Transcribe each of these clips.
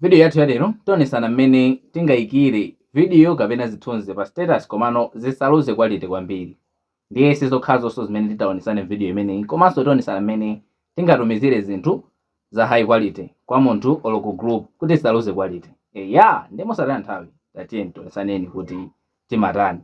Vidiyo yathu ya lero tionesana mmene tingaikire vidiyo kapena zithunzi pa status komano zisaluze quality kwambiri. Ndiye si zokhazonso zimene titaonetsane m'vidiyo imeneyi komanso tionesana mmene tingatumizire zinthu za high quality kwa munthu olo ku group kuti zisaluze quality. Eya! Ndiye mosataya nthawi tatiyeni tionesaneni kuti timatani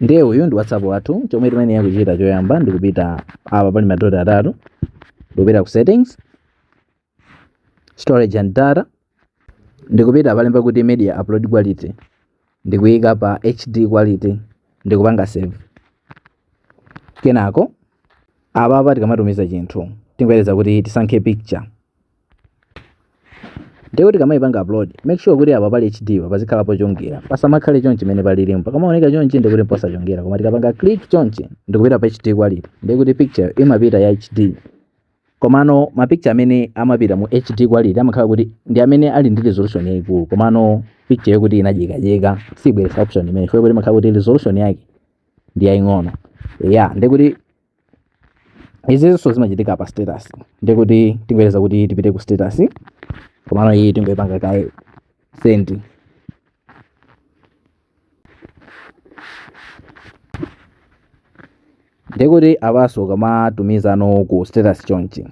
ndiye uyu ndi whatsapp wathu chomwe timayenera kuchita choyamba ndi kupita apa pali madoti atatu ndikupita ku settings storage and data ndikupita palemba kuti media upload quality ndikuyika pa hd quality ndikupanga save kenako apapa tikamatumiza chinthu tingoyereza kuti tisankhe picture ndiye kuti kamaipanga upload make sure kuti apa pali hd apa pazikhala pochongera pasamakhale chonchi mmene palilimu pakamaoneka chonchi ndiye kuti n'posachongera koma tikapanga click chonchi ndikupita pa hd quality ndiye kuti picture imapita ya hd komano ma picture amene amapita mu hd quality amakhala kuti ndi amene ali ndi resolution yayikulu komano picture yokuti inadyekadyeka sibweretsa option imene chifukwa kuti imakhala kuti resolution yake ndi yaying'ono ya ndiye kuti izinso zimachitika pa status ndiye kuti tingoyerekeza kuti tipite ku status komano iyi tingoyipanga kaye send ndiye kuti apanso ukamatumizano ku status chonchi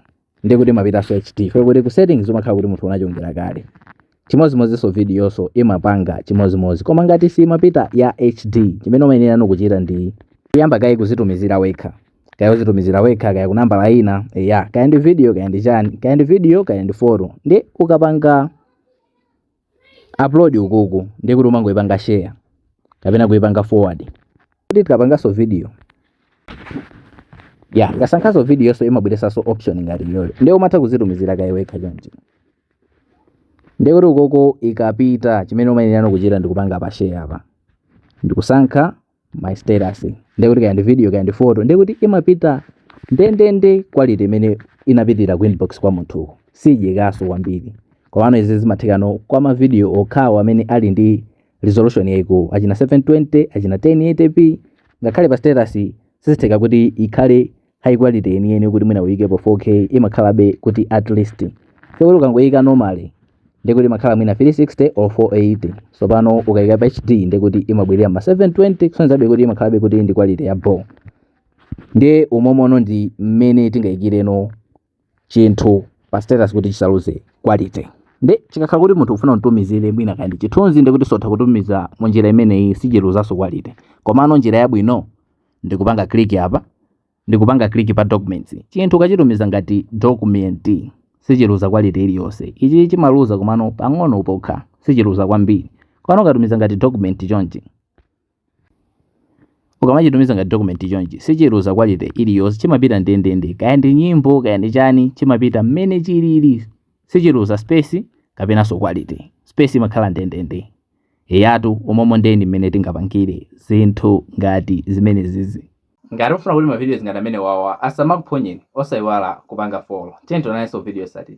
ndiye kuti imapitanso ya HD chifukwa kuti ku settings umakhala kuti munthu unachongera kale chimodzimodzinso videonso imapanga chimodzimodzi koma ngati simapita ya HD chimene umayenera kuchita ndi kuyamba kaye kuzitumizira wekha kaya uzitumizira wekha kaya kunambala ina eya kaya ndi video kaya ndi chani kaya ndi video kaya ndi photo ndiye ukapanga upload ukuku ndiye kuti umangoipanga share kapena kuipanga forward kuti tikapanganso video eya, ukasankhanso videoyonso imabweretsanso option ngati iyoyo ndiye umatha kuzitumizira kaye wekha chonchi ndiye kuti ukoko ikapita chimene umayenera kuchita ndikupanga pa share apa ndikusankha my status ndiye kuti kaya ndi video kaya ndi photo ndiye kuti imapita ndendende quality imene inapitira ku inbox kwa munthu sidyekanso kwambiri komano izi zimathekano kwa mavidiyo okhawo amene ali ndi resolution yayikulu achina 720 achina 1080p ngakhale pa status sizitheka kuti ikhale high quality yeniyeni kuti mwina uyikepo 4k imakhalabe kuti at least chifukwa kuti ukangoyika normally ndiye kuti imakhala mwina 360 or 480 tsopano ukayika pa hd ndiye kuti imabwerera m'ma 720 kusonyeza kuti imakhalabe kuti ndi quality ya bho ndiye umomono ndi mmene tingayikireno chinthu pa status kuti chisaluze quality nde chikakhala kuti munthu ufuna mtumizire mwina kaya ndi chithunzi ndikuti sotha kutumiza mu njira imeneyi sichiluzanso quality komano njira yabwino ndikupanga click apa ndikupanga click pa documents chinthu ukachitumiza ngati document sichiluza quality iliyonse ichi chimaluza komano pang'ono pokha sichiluza kwambiri komano ukatumiza ngati document chonchi ukamachitumiza ngati document chonchi sichiluza quality iliyonse chimapita ndendende kaya ndi nyimbo kaya ndi chani chimapita mmene chilili sichiluza space kapenanso quality space imakhala ndendende eyatu momwemo ndeni mmene tingapangire zinthu ngati zimenezizi ngati ufuna kuti mavidiyo ngati amene wawa asamakuphonyeni osayiwala kupanga follow tiyeni tionanenso vidiyo yotsatira